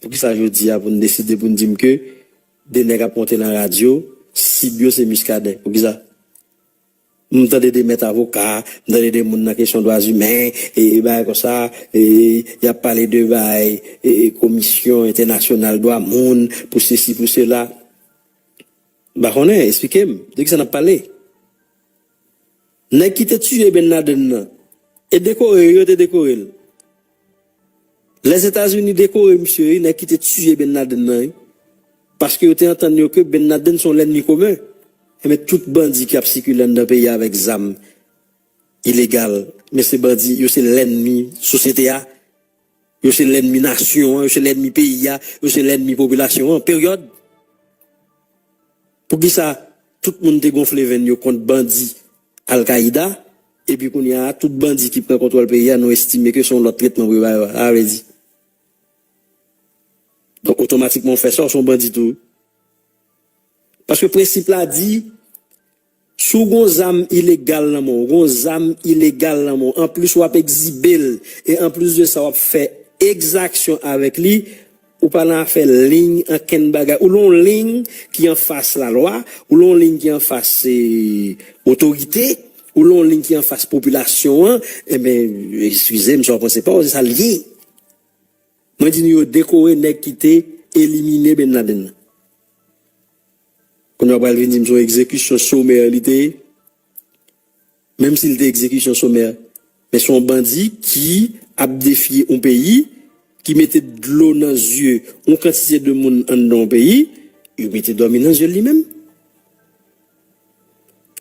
Poukisa jodi a pou n deside pou n di m ke 2 nèg ap monte nan radyo, sib yo se Muscadin? Poukisa? M tande 2 mèt avoka, m tande 2 moun nan kesyon dwa zimen, e bagay konsa, e y ap pale de bagay komisyon entènasyonal dwa moun, pou sesi pou sela. M pa konnen, esplike m, de kisa n ap pale? Nèg ki te tiye Ben Laden nan, e dekore yo, yo te dekore l. Lèzetazini dekore misye wi, nèg ki te tiye Ben Laden nan wi. Paske yo te antann yo ke Ben Laden se yon lènmi komen. Enben tout bandi ki ap sikile anndan peyi a avèk zam ilegal, men se bandi, yo se lènmi sosyete a. Yo se lènmi nasyon an, yo se lènmi peyi a, yo se lènmi popilasyon an, peryòd. Poukisa tout moun te gonfle venn yo kont bandi Al-Kaida, epi kounye a tout bandi ki pran kontwòl peyi a nou estime ke se yon lòt tretman pou yo ba yo a? Sa vle di. Donk otomatikman ou fè sa ou se yon bandi tou wi. Paske prensip la di. Si w gon zam ilegal nan men w, gon zam ilegal nan men w, anplis wap ekzibe l e anplis de sa wap fè ekzaksyon avèk li, ou pa nan afè lign ankenn bagay. Ou lan w lign ki anfas lalwa, ou lan w lign ki anfas otorite, ou lan w lign ki anfas popilasyon an, enben, ekskize m si w ap pran se pa w, se sa l ye. Mwen di nou yo dekore nèg ki te elimine Bin Laden nan. Kounye a ou pral vin di m se yon egzekisyon somè li te ye. Menm si li te egzekisyon somè, men se yon bandi ki ap defye yon peyi, ki mete dlo nan zye yon kantite de moun anndan yon peyi, yo mete dòmi nan zye l li menm.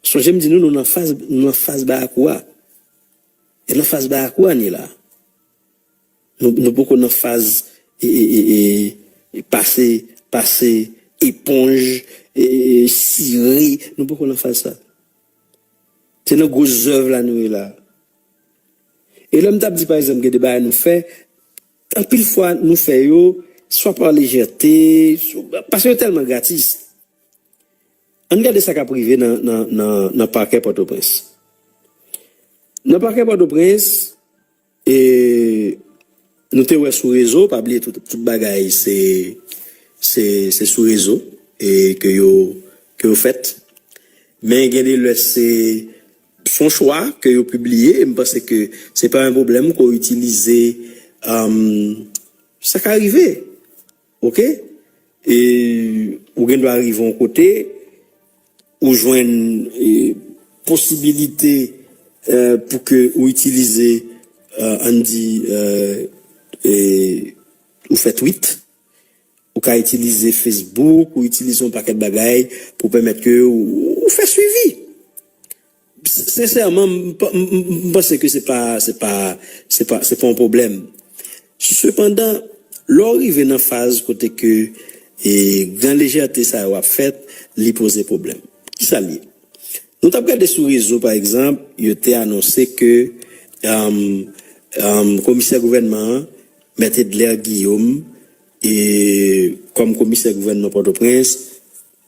Sonje m di nou, nou nan faz, nou nan faz bayakou a. E nan faz bayakou a n ye la a. Nou poko nan faz pase pase eponj, sire, nou poko nan faz sa. Se nan gwo zèv la nou ye la. E lè m t ap di pa egzanp gen de bagay nou fè, anpil fwa nou fè yo swa pa lejète, paske yo tèlman gratis. Ann gade sa k ap rive nan pakè Pòtoprens. Nan pakè Pòtoprens. E Nou te wè sou rezo, pa bliye tout bagay se se sou rezo e ke yo ke yo fèt. Men gen de lè se son chwa ke yo pibliye e m panse ke se pa yon pwoblèm ke w itilize sa ka rive. Ok e ou gen dwa rive yon kote ou jwenn posibilite pou ke ou itilize ann di ou fè twit ou ka itilize facebook ou itilize yon pakèt bagay pou pèmèt ke ou fè swivi. Sensèman, m panse ke se pa, se pa, se pa, se pa yon pwoblèm. Sepandan, lè w rive nan faz kote ke gran lejète sa yo ap fèt, li poze pwoblèm. Ki sa l ye? Nou t ap gade sou rezo, pa egzanp, yo te anonse ke komisè gouvènman an, Mèt Edler Guillaume, kòm komisè gouvènman Pòtoprens,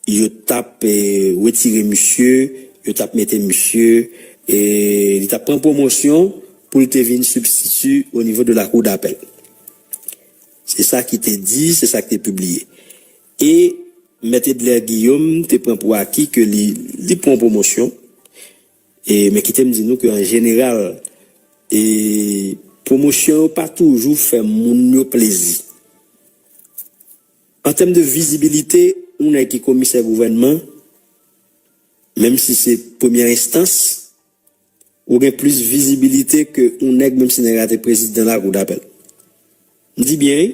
Yo tap retire misye, yo tap mete misye, li tap pran pwomosyon pou l te vin sibstiti o nivo de lakou dapèl. Se sa ki te di, se sa ki te pibliye. E Mèt Edler Guillaume te pran pou aki ke li li pran pwomosyon. E men kite m di nou ke an jeneral, e pwomosyon yo pa toujou fè moun yo plezi. An tèm de vizibilite, yon nèg ki komisè gouvènman, menm si se premyè enstans, ou gen plis vizibilite ke yon nèg menm si nèg la te prezidan lakou dapèl. M di byen wi,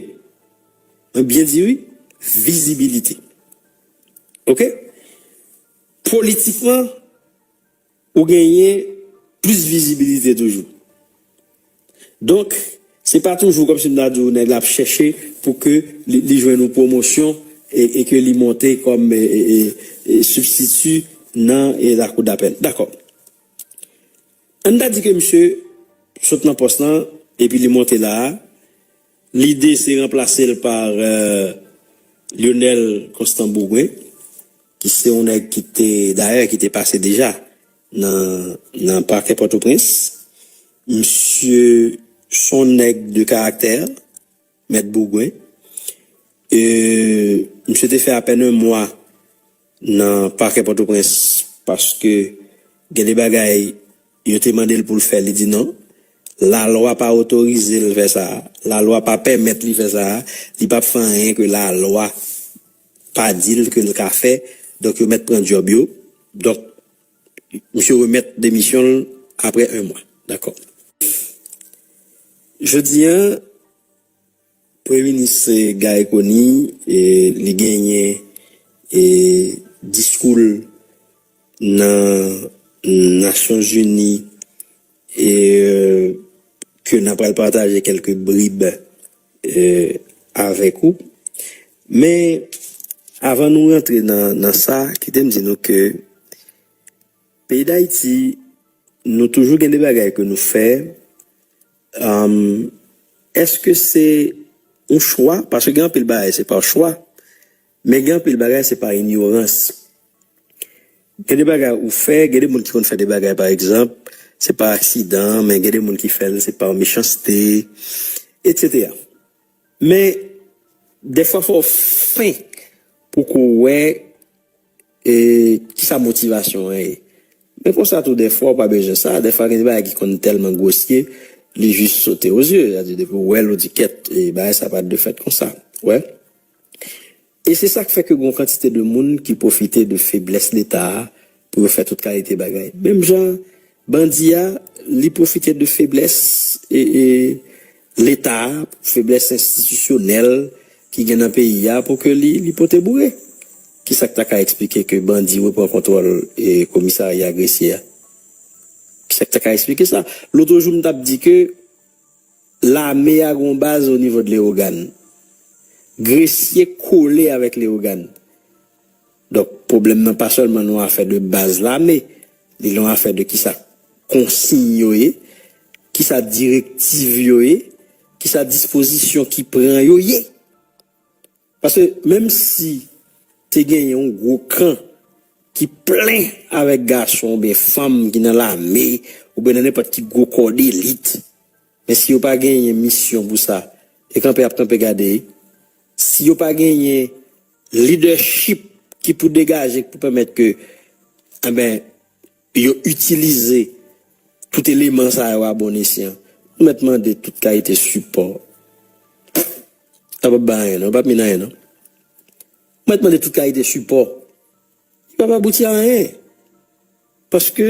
mwen byen di wi, vizibilite. Ok? Politikman. Ou genyen plis vizibilite toujou. Donk, se pa toujou kòmsi m ta di w nèg la ap chèche pou ke li jwenn yon pwomosyon e ke li monte kòm sibstiti nan lakou dapèl. Dakò. Ann ta di ke misye sot nan pòs lan epi li monte la a. Lide se ranplase l pa Lyonel Constant Bourgoin ki se yon nèg ki te, dayè ki te pase deja nan pakè Pòtoprens. Misye se yon nèg de karaktè, Mèt Bourgoin. Misye te fè apèn 1 mwa. nan pakè Pòtoprens paske gen de bagay yo te mande l pou l fè li di non, lalwa pa otorize l fè sa, lalwa pa pèmèt li fè sa, li pap fè anyen ke lalwa pa di l ke l ka fè, donk yo mèt pran djòb yo, donk misye remèt demisyon l aprè 1 mwa. Dakò. Jodi an Premye minis Guy Conille li genyen diskou l nan nasyon zini ke nan pral pataje kelke brib avèk ou men avan nou rantre nan sa kite m di nou ke peyi dayiti nou toujou gen de bagay ke nou fè Eske se yon chwa? Paske gen anpil bagay se pa chwa, men gen anpil bagay se pa inyorans. Gen de bagay ou fè, gen de moun ki konn fè de bagay pa egzanp, se pa aksidan, men gen de moun ki fè l se pa mechanste, etsetera. Men, dèfwa fò w fenk pou ko w wè kisa motivasyon an ye. Men konsa tou dèfwa w pa bezwen sa, dèfwa gen de bagay ki konn tèlman gwosye li jis sote o zye, sètadi depi w wè l ou di kèt, bagay sa pa t dwe fèt konsa, ou wè. E se sa k fè ke gen yon kantite de moun ki pwofite de feblès Leta a pou yo fè tout kalite bagay. Menm jan bandi a, li pwofite de feblès Leta a, feblès enstitisyonèl ki gen nan peyi a pou ke li pote boure. Ki sa k ta ka eksplike ke bandi repran kontwòl komisarya Gresye a? Ki sa k ta ka eksplike sa? Lotrejou m t ap di ke. Lame a gen yon baz o nivo de Lewogàn. Gresye kole avèk Lewogàn. Donk, pwoblèm nan pa sèlman yon afè de baz lame, li yon afè de kisa konsiy yo ye, kisa direktiv yo ye, kisa dispozisyon ki pran yo ye. Paske menm si te genyen yon gwo kan ki plen avèk gason oubyen fanm ki nan lame oubyen nan nenpòt ki gwo kò delit, men si yo pa genyen misyon pou sa, e kanpe y ap kanpe gade? Si yo pa genyen lidèchip ki pou degaje, ki pou pèmèt ke, enben. Yo itilize tout eleman sa yo a bon esyan. Nou mèt mande tout kalite sipò. Yo pap bay anyen non, yo pap min anyen non. Nou mèt mande tout kalite sipò. Li pap abouti a anyen. Paske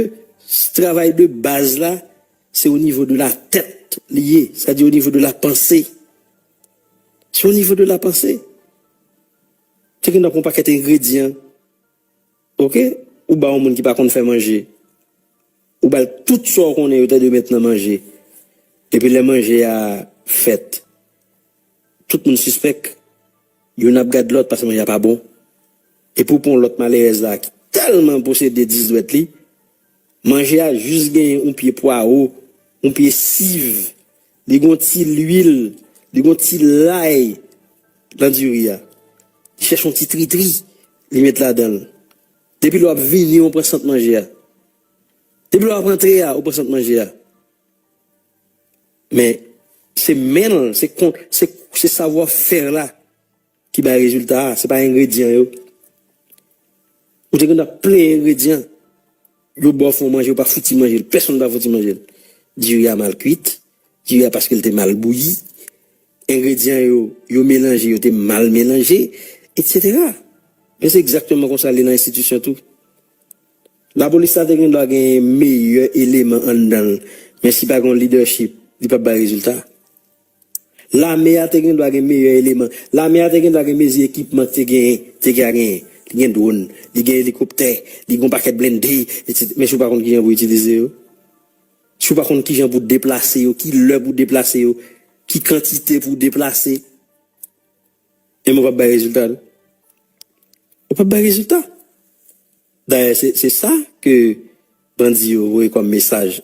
travay de baz la, se o nivo de la tèt li ye, sa di o nivo de la panse. Se o nivo de la panse. Te gen nan pou yon pakèt engredyan Ok ou ba yon moun ki pa konn fè manje ou bal tout sa ou konnen yo ta dwe met nan manje epi lè manje a fèt tout moun sispèk youn ap gad lòt paske manje a pa bon epi ou pran yon lòt malerèz la ki tèlman posede 10 dwèt li. Manje a jis genyen yon pye pwawo, yon pye siv, li gen yon ti lwil, li gen yon ti lay nan diri a. Li chèche yon ti tritri li met ladan l. Depi lè w ap vini ou pran sant manje a. Depi lè w ap antre a ou pran sant manje a. Men se men l, se savwa fè la. Ki bay rezilta a, se pa engredyan yo. Ou te konn ap plenyen engredyan. Yo ba w fon manje ou pa fouti manje l, pèsonn pa fouti manje l. Diri a mal kwit, diri a paske l te mal bouyi, engredyan yo, yo melanje yo te mal melanje, etsetera. Men se egzakteman konsa l ye nan enstitisyon tou. Lapolis la te gen dwa gen meyè eleman anndan l, men si pa gen yon lidèchip, li p ap bay rezilta. Lame a te gen dwa gen meyè eleman. Lame a te gen dwa gen mezi ekipman ki te genyen. Te ka genyen. Li gen dwon. Li gen elikoptè. Li gen yon pakèt blende, etc. Men si w pa konn kijan pou itilize yo? Si w pa konn kijan pou deplase yo, ki lè pou deplase yo, ki kantite pou deplase? E mwen pap bay rezilta non. Ou pap bay rezilta. Dayè se sa ke bandi yo voye kòm mesaj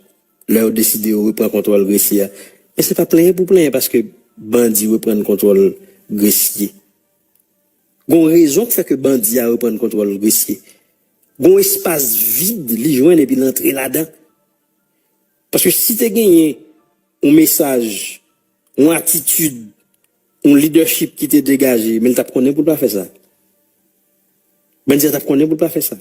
lè yo deside yo repran kontwòl Gresye a. Men se pa plenyen pou plenyen paske bandi reprann kontwòl Gresye. Gon rezon ki fè ke bandi a reprann kontwòl Gresye. Gon espas vid li jwenn epi l antre ladan. Paske si te genyen yon mesaj, yon atitid Yon leadership ki te degaje, men li tap konnen pou l pa fè sa. Bandi a tap konnen pou l pa fè sa.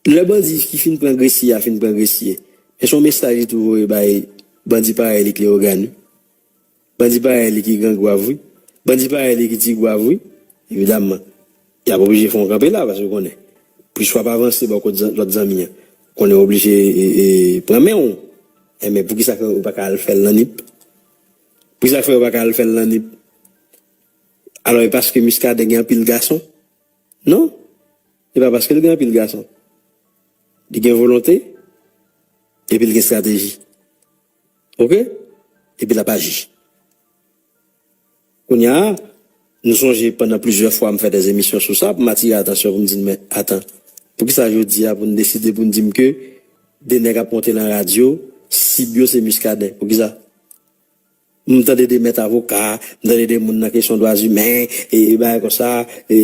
Lè bandi ki fin pran Gresye a fin pran Gresye, men se yon mesaj li tou voye bay bandi parèy li k Leyogàn wi. Bandi parèy li ki Gran Gwav wi. Bandi parèy li ki Ti Gwav wi. Evidamman, y ap oblije fè yon kanpe la, paske yo konnen, plis w ap avanse bò kot lòt zanmi an, konnen yo oblije pran men w. Enben, poukisa yo pa ka al fè l nan Nip? Pou sa fè yo paka al fèl nan nip alò e paske miskaden gen anpil gason non e pa paskel gen anpil gason li gen volonte epil gen strateji ok epi lap aji kounya. M sonje pandan plizyè fwa m fè dè emisyon sou sa pou m atire atansyon pou m di n men atan, poukisa jodi a pou n deside pou n di m ke 2 nèg ap monte lan radyo, sib yo se Muscadin? Poukisa? M tande 2 mèt avoka, m tande 2 moun nan kesyon dwazimen, e bagay konsa, e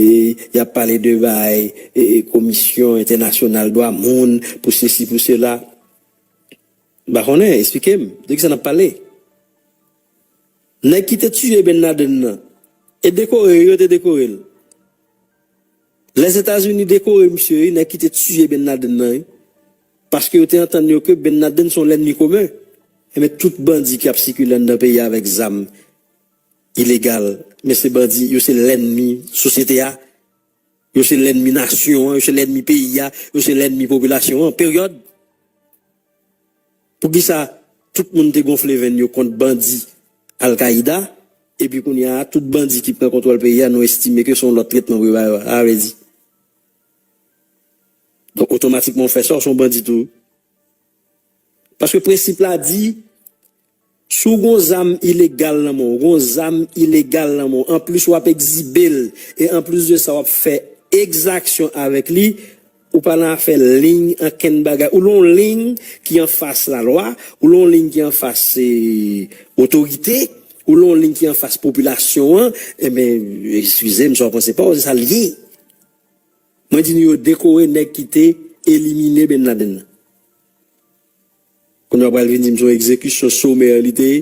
y ap pale de bagay komisyon entènasyonal dwa moun, pou sesi pou sela. M pa konnen, esplike m, de kisa n ap pale? Nèg ki te tiye Ben Laden nan, e dekore yo yo te dekore l. Lèzetazini dekore misye wi, nèg ki te tiye Ben Laden nan wi. Paske yo te antann yo ke Ben Laden se yon lènmi komen. Enben tout bandi ki ap sikile anndan peyi a avèk zam ilegal, men se bandi, yo se lènmi sosyete a, yo se lènmi nasyon an, yo se lènmi peyi a, yo se lènmi popilasyon an, peryòd. Poukisa tout moun te gonfle venn yo kont bandi Al-Qaida epi kounya a tout bandi ki pran kontwòl peyi a nou estime ke se yon lòt tretman pou yo ba yo a? Sa vle di Donk otomatikman ou fè sa ou se yon bandi tou wi. Paske prensip la di Si w gon zam ilegal nan men w, gon zam ilegal nan men w, anplis w ap ekzibe l e anplis de sa w ap fè ekzaksyon avèk li, ou pa nan afè liy ankenn bagay. Ou lon liy ki anfas lalwa, ou lon liy ki anfas otorite, ou lon liy ki anfas popilasyon an, enben, ekskize m si w ap pran se pa w, se sa l ye. Mwen di nou yo dekore nèg ki te elimine Bin Laden nan. Kounye a ou pral vin di m se yon egzekisyon somè li te ye.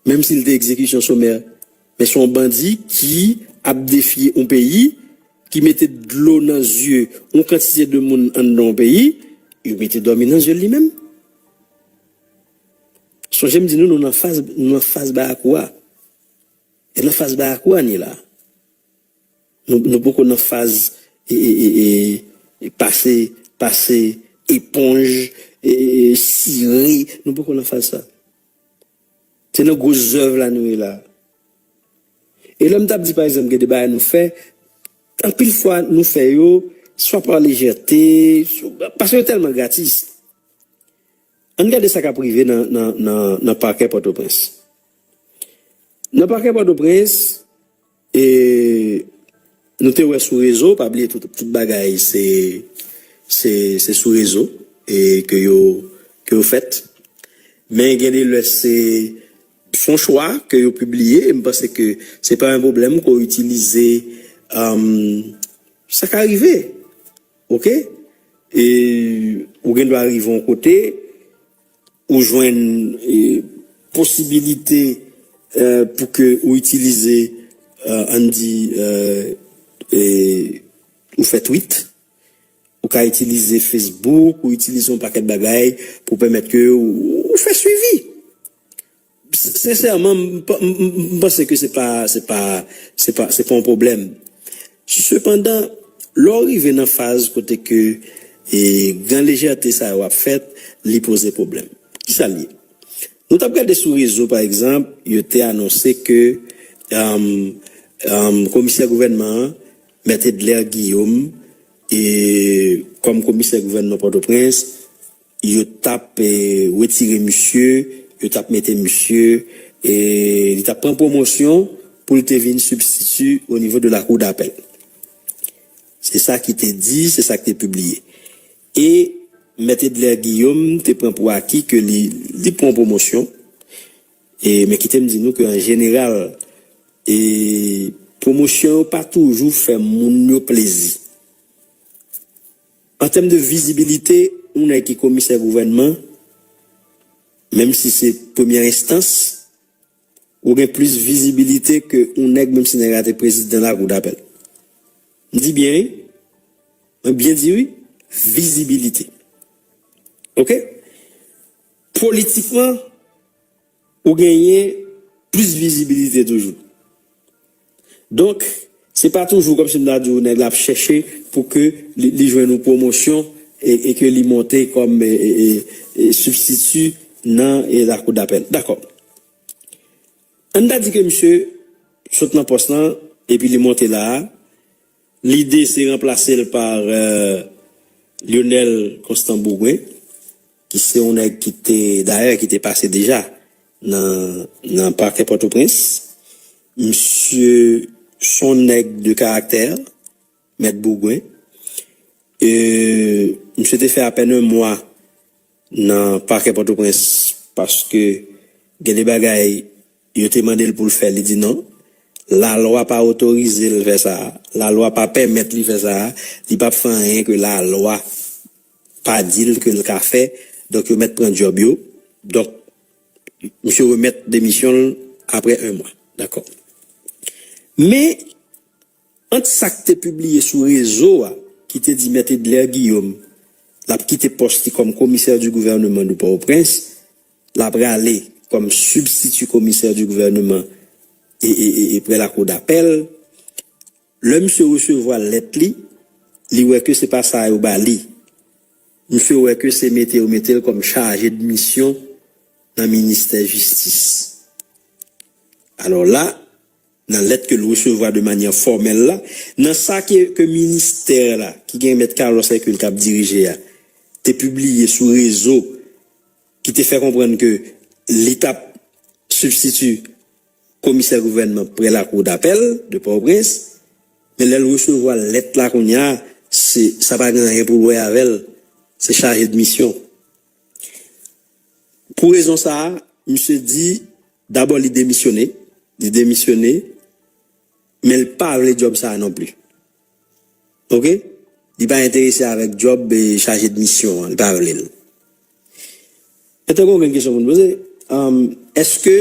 Menm si li te egzekisyon somè, men se yon bandi ki ap defye yon peyi, ki mete dlo nan zye yon kantite de moun anndan yon peyi, yo mete dòmi nan zye l li menm. Sonje m di nou, nou nan fas, nou nan fas bayakou a. E nan fas bayakou a n ye la. Nou poko nan faz pase pase eponj, sire, nou poko nan faz sa. Se nan gwo zèv la nou ye la. E lè m t ap di pa egzanp gen de bagay nou fè, anpil fwa nou fè yo swa pa lejète, paske yo tèlman gratis. Ann gade sa k ap rive nan pakè Pòtoprens. Nan pakè Pòtoprens. E nou te wè sou rezo, pa bliye tout bagay se sou rezo ke yo fèt. Men gen de lè se son chwa ke yo pibliye e m panse ke se pa yon pwoblèm ke w itilize sa ka rive ok e ou gen dwa rive yon kote. Ou jwenn posibilite pou ke ou itilize, ann di, ou fè twit, ou ka itilize Facebook, ou itilize yon pakèt bagay pou pèmèt ke ou fè swivi. Sensèman, m panse ke se pa se pa yon pwoblèm. Sepandan, lè w rive nan faz kote ke gran lejète sa yo ap fèt, li poze pwoblèm. Ki sa l ye? Nou t ap gade sou rezo pa egzanp, yo te anonse ke komisè gouvènman an, Mèt Edler Guillaume, kòm komisè gouvènman Pòtoprens, Yo tap retire misye, yo tap mete misye, li tap pran pwomosyon pou l te vin sibstiti o nivo de lakou dapèl. Se sa ki te di, se sa ki te pibliye. E mèt Edler Guillaume te pran pou aki ke li li pran pwomosyon, men kite m di nou ke an jeneral pwomosyon yo pa toujou fè moun yo plezi. An tèm de vizibilite, yon nèg ki komisè gouvènman, menm si se premyè enstans, ou gen plis vizibilite ke yon nèg menm si nèg la te prezidan lakou dapèl. M di byen wi, mwen byen di wi, vizibilite. Ok? Politikman, Ou genyen plis vizibilite toujou. Donk, se pa toujou kòmsi m ta di ou nèg la ap chèche pou ke li jwenn yon pwomosyon e ke li monte kòm sibstiti nan lakoudapèl. Dakò. Ann ta di ke misye sot nan pòs lan epi li monte la a, lide se ranplase l pa Lyonel Constant Bourgoin. ki se yon nèg ki te, dayè ki te pase deja nan nan pakè Pòtoprens, misye s on nèg de karaktè, mèt Bourgwen, e misye te fè apèn 1 mwa nan pakè Pòtoprens paske gen de bagay yo te mande l pou l fè li di non, lalwa pa otorize l fè sa, lalwa pa pèmèt li fè sa, li p ap fè anyen ke lalwa. pa dil ke l ka fè donk yo mèt pran djòb yo donk misye remèt demisyon l aprè 1 mwa dakò men ant sa k te pibliye sou rezo a ki te di mèt Edler Guillaume l ap kite pòs li kòm komisè di gouvèneman de Pòtoprens l ap rale kòm sibstiti komisè di gouvèneman e prè lakou dapèl. Lè misye resevwa lèt li, li wè ke se pa sa yo ba li. Misye wè ke se mete yo mete l kòm chaje de misyon nan ministè jistis. Alò la, nan lèt ke l resevwa de manyè fòmèl la, nan sa ke ke ministè la, ki gen mèt Carlos Hercule kap dirije a, te pibliye sou rezo ki te fè konprann ke li tap sibstiti, Komisè gouvènman prè lakou dapèl de Pòtoprens, men lè l resevwa lèt la kounya se sa pa gen anyen pou l wè avè l, se chaje de misyon. Pou rezon sa a, misye di dabò li demisyone, li demisyone men l pa vle djòb sa a non pli. Ok li pa enterese avèk djòb chaje de misyon an li pa vle l Mwen te gen okenn kesyon pou m poze Èske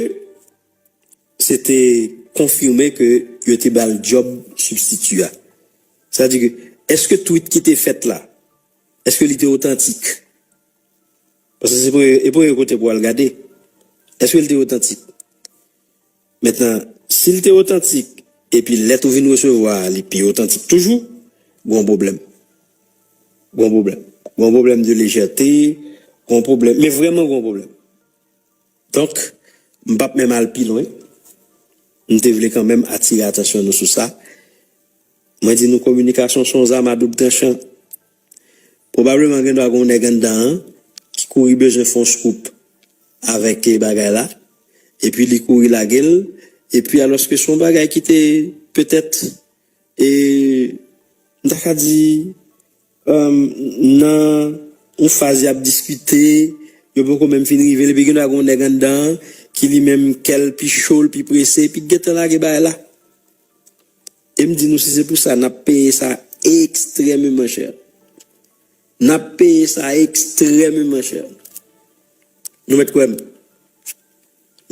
se te konfime ke yo te ba l djòb sibstiti a Sa di ke èske twit ki te fèt la èske li te otantik Paske se premye kote pou w al gade Èske li te otantik Mentnan, si l te otantik epi lèt ou vin resevwa a li pi otantik toujou, gon pwoblèm. Gon pwoblèm. Gon pwoblèm de lejète, gon pwoblèm, men vrèman gon pwoblèm. Donk, m pap menm al pi lwen, m te vle kanmenm atire atansyon nou sou sa. Mwen di nou kominikasyon s on zam a doub tranchan. Pwobableman gen dwa gen yon nèg anndan an ki kouri bezwen fè yon scoop avèk bagay la, epi li kouri lage l, epi alòske se yon bagay ki te petèt, m ta ka di, nan yon faz y ap diskite, yo poko menm fin rive l, epi gen dwa gen yon nèg anndan an ki li menm kè l pi cho, l pi prese, epi ki gentan lage bagay la. E m di nou si se pou sa nap peye sa ekstrèmeman chè. Nap peye sa ekstrèmeman chè. Nou mèt kwè m.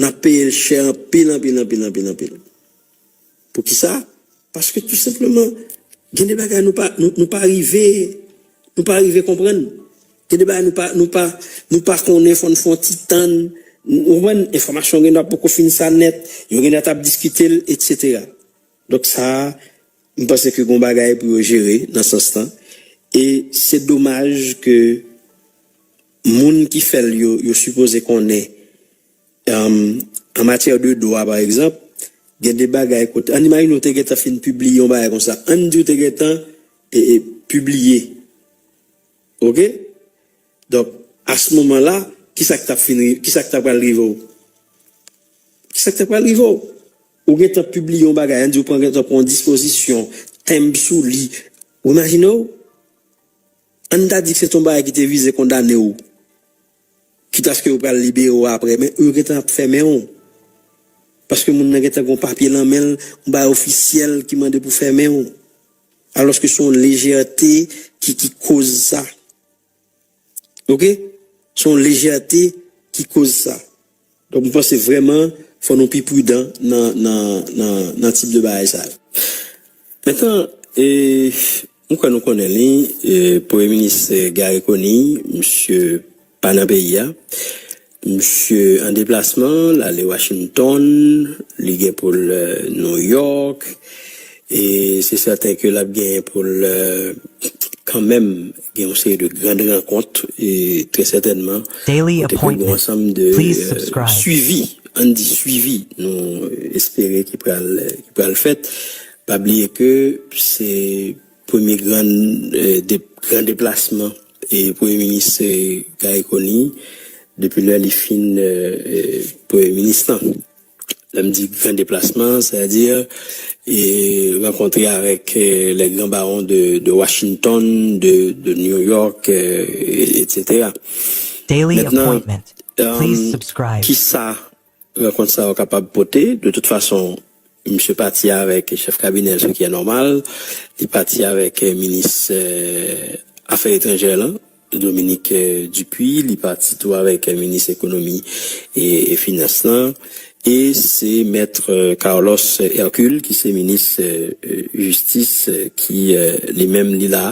Nap peye l chè anpil anpil anpil anpil anpil. Pou ki sa? Paske tou senpleman gen de bagay nou pa rive nou pa rive konprann. Gen de bagay nou pa nou pa nou pa konnen fò n fè yon ti tann ou konprann enfòmasyon gen dwa poko fin sa nèt yo gen dwa tap diskite l etc donk sa m panse ke gon bagay pou yo jere nan sans lan e se domaj ke moun ki fè l yo yo sipoze konnen an matyè de dwa pa egzanp gen de bagay kote ann imajine ou te gentan fin pibliye yon bagay konsa ann di ou te gentan pibliye. Ok donk a ce moment là kisa ki tap fin rive kisa ki ta pral rive w kisa ki ta pral rive w ou gentan pibliye yon bagay an di ou pran gentan pran yon dispozisyon tenb sou li ou imajine w ann ta di ke se te yon bagay ki te vize kondane w kit aske yo pral libere w aprè men yo gentan ap fèmen w paske moun nan gentan gen yon papye nan men l yon bagay ofisyèl ki mande pou fèmen w. Alòske se yon lejète ki ki koz sa. Ok. Se yon lejète ki koz sa. Donk m panse vrèman fò nou pi pridan nan nan nan nan tip de bagay sa yo. Mentan e m kwè nou konnen li, Premye Minis Garry Conille, misye Pa nan peyi a. Misye an deplasman, l ale Washington, li gen pou l New York, e se sèten ke l ap genyen pou l kanmenm gen yon seri de grand rankont, e trè sètènman, kote ke gen yon ansanm de swivi, an n di swivi, nou espere ki pral fèt. Pa bliye ke se. Premye gran deplasman Premye Minis Garry Conille depi lè li fin Premye Minis lan. Lè m di gran deplasman, sètadi rankontre avèk les grands barons de Washington, de New York, etc. Mètnan, kisa rankont sa yo kapab pote. De tout fason, misye pati avèk chèf kabinè l, se ki è nòmal. Li pati avèk minis afè etranjè lan, Dominique Dupuy. Li pati tou avèk minis ekonomi e finans lan. E se Maître Carlos Hercule ki se minis jistis ki li menm li la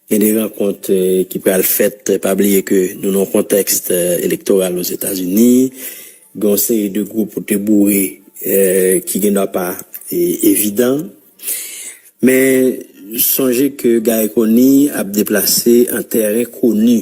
Gen 2 rankont ki pral fèt, pa bliye ke nou nan yon kontèks elektoral Ozetazini, gen yon seri de gwoup ou te boure ki gendwa pa evidan. Men sonje ke Guy Conille ap deplase an tèren koni.